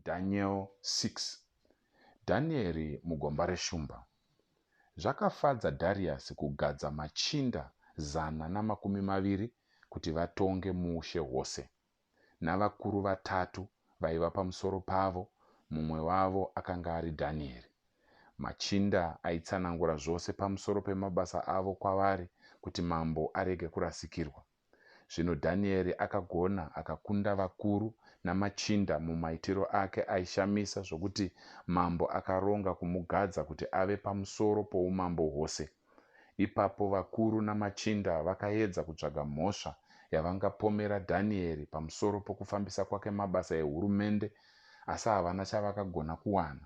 Daniel 6 Dhanieri mugomba reshumba Zvakafadza Dhariasi kugadza machinda zana namakumi maviri kuti vatonge muushe hwose, navakuru vatatu vaiva pamusoro pavo, mumwe wavo akanga ari Dhanieri. Machinda aitsanangura zvose pamusoro pemabasa avo kwavari kuti mambo arege kurasikirwa. Zvino Dhanieri akagona, akakunda vakuru namachinda mumaitiro ake aishamisa zvokuti mambo akaronga kumugadza kuti ave pamusoro poumambo hwose. Ipapo vakuru namachinda vakaedza kutsvaga mhosva yavangapomera Dhanieri pamusoro pokufambisa kwake mabasa ehurumende, asi havana chavakagona kuwana.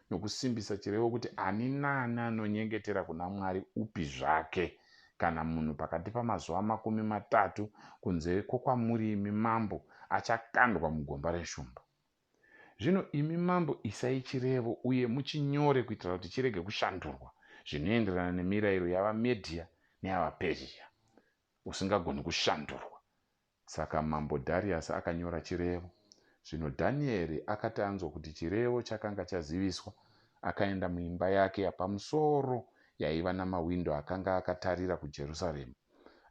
nokusimbisa chirevo kuti ani naani anonyengetera kuna Mwari upi zvake kana munhu pakati pamazuva makumi matatu kunze kwokwamuri imi mambo achakandwa mugomba reshumba. Zvino imi mambo isai chirevo uye muchinyore kuitira kuti chirege kushandurwa zvinoenderana nemirayiro yavaMedhia neyavaPerzhia, usingagoni kushandurwa. Saka Mambo Dhariasi akanyora chirevo. Zvino Dhanieri akati anzwa kuti chirevo chakanga chaziviswa, akaenda muimba yake yapamusoro yaiva namawindo akanga akatarira kuJerusarema.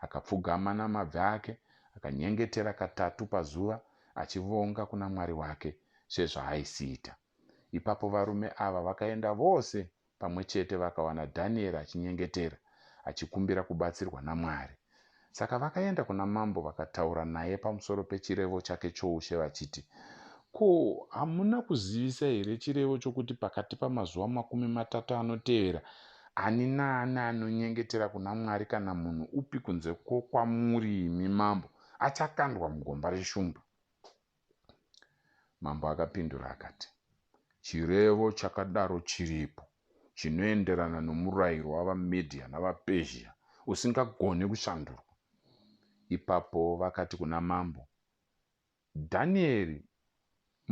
Akapfugama namabvi ake, akanyengetera katatu pazuva, achivonga kuna Mwari wake, sezvaaisiita. Ipapo varume ava vakaenda vose pamwe chete vakawana Dhanieri achinyengetera, achikumbira kubatsirwa naMwari. Saka vakaenda kuna mambo vakataura naye pamusoro pechirevo chake choushe vachiti, Ko, hamuna kuzivisa here chirevo chokuti pakati pamazuva makumi matatu anotevera, ani naani anonyengetera kuna Mwari kana munhu upi kunze kwokwamuri imi mambo, achakandwa mugomba reshumba? Mambo akapindura akati, Chirevo chakadaro chiripo chinoenderana nomurairo wavaMedhia navaPezhia usingagoni kushandurwa. Ipapo vakati kuna mambo, Dhanieri,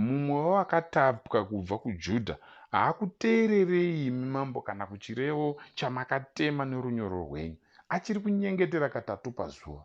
mumwe wevakatapwa kubva kuJudha, haakuteererei imi mambo kana kuchirevo chamakatema norunyoro rwenyu. Achiri kunyengetera katatu pazuva.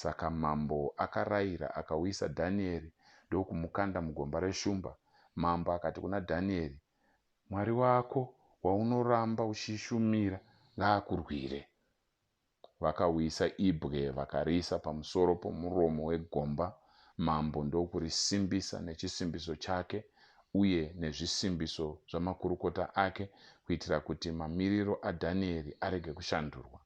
Saka mambo akaraira, akauyisa Dhanieri ndokumukanda mugomba reshumba. Mambo akati kuna Dhanieri, Mwari wako waunoramba uchishumira ngaakurwire. Vakauyisa ibwe vakariisa pamusoro pomuromo wegomba, mambo ndokurisimbisa nechisimbiso chake uye nezvisimbiso zvamakurukota ake kuitira kuti mamiriro aDhanieri arege kushandurwa.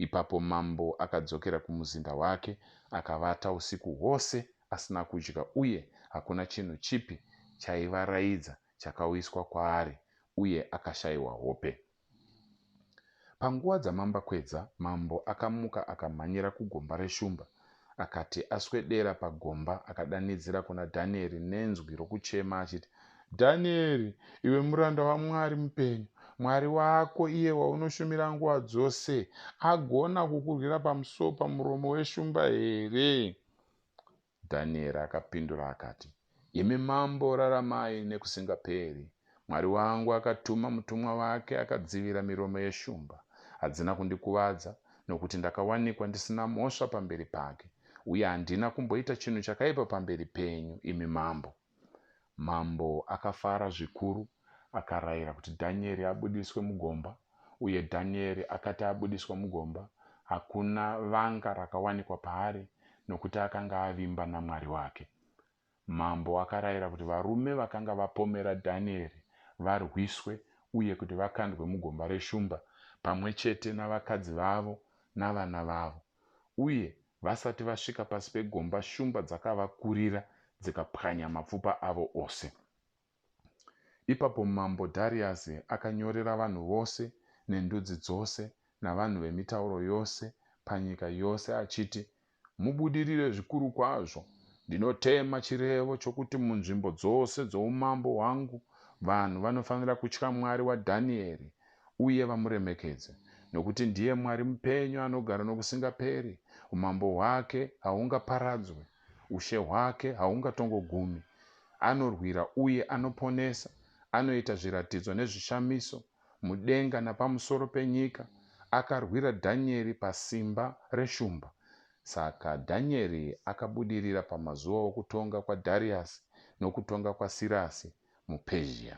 Ipapo mambo akadzokera kumuzinda wake akavata usiku hwose asina kudya uye hakuna chinhu chipi chaivaraidza chakauyiswa kwaari uye akashayiwa hope. Panguva dzamambakwedza mambo akamuka akamhanyira kugomba reshumba Akati aswedera pagomba, akadanidzira kuna Dhanieri nenzwi rokuchema achiti, Dhanieri, iwe muranda waMwari mupenyu, Mwari wako, iye waunoshumira nguva dzose, agona kukurwira pamusowo pamuromo weshumba here? Dhanieri akapindura akati, Imi Mambo raramai nekusingaperi. Mwari wangu akatuma mutumwa wake akadzivira miromo yeshumba. Hadzina kundikuvadza nokuti ndakawanikwa ndisina mhosva pamberi pake, uye handina kumboita chinhu chakaipa pamberi penyu, imi mambo. Mambo akafara zvikuru akarayira kuti Dhanieri abudiswe mugomba, uye Dhanieri akati abudiswa mugomba, hakuna vanga rakawanikwa paari nokuti akanga avimba naMwari wake. Mambo akarayira kuti varume vakanga vapomera Dhanieri varwiswe uye kuti vakandwe mugomba reshumba, pamwe chete navakadzi vavo navana vavo. Uye vasati vasvika pasi pegomba, shumba dzakavakurira dzikapwanya mapfupa avo ose. Ipapo mambo Dhariasi akanyorera vanhu vose nendudzi dzose navanhu vemitauro yose panyika yose achiti, Mubudirire zvikuru kwazvo! Ndinotema chirevo chokuti munzvimbo dzose dzoumambo hwangu vanhu vanofanira kutya Mwari waDhanieri uye vamuremekedze, nokuti ndiye Mwari mupenyu anogara nokusingaperi, umambo hwake hahungaparadzwi. Ushe hwake haungatongogumi. Anorwira uye anoponesa, anoita zviratidzo nezvishamiso, mudenga napamusoro penyika. Akarwira Dhanyeri pasimba reshumba. Saka Dhanyeri akabudirira pamazuva okutonga kwaDhariasi nokutonga kwaSirasi muPezhiya.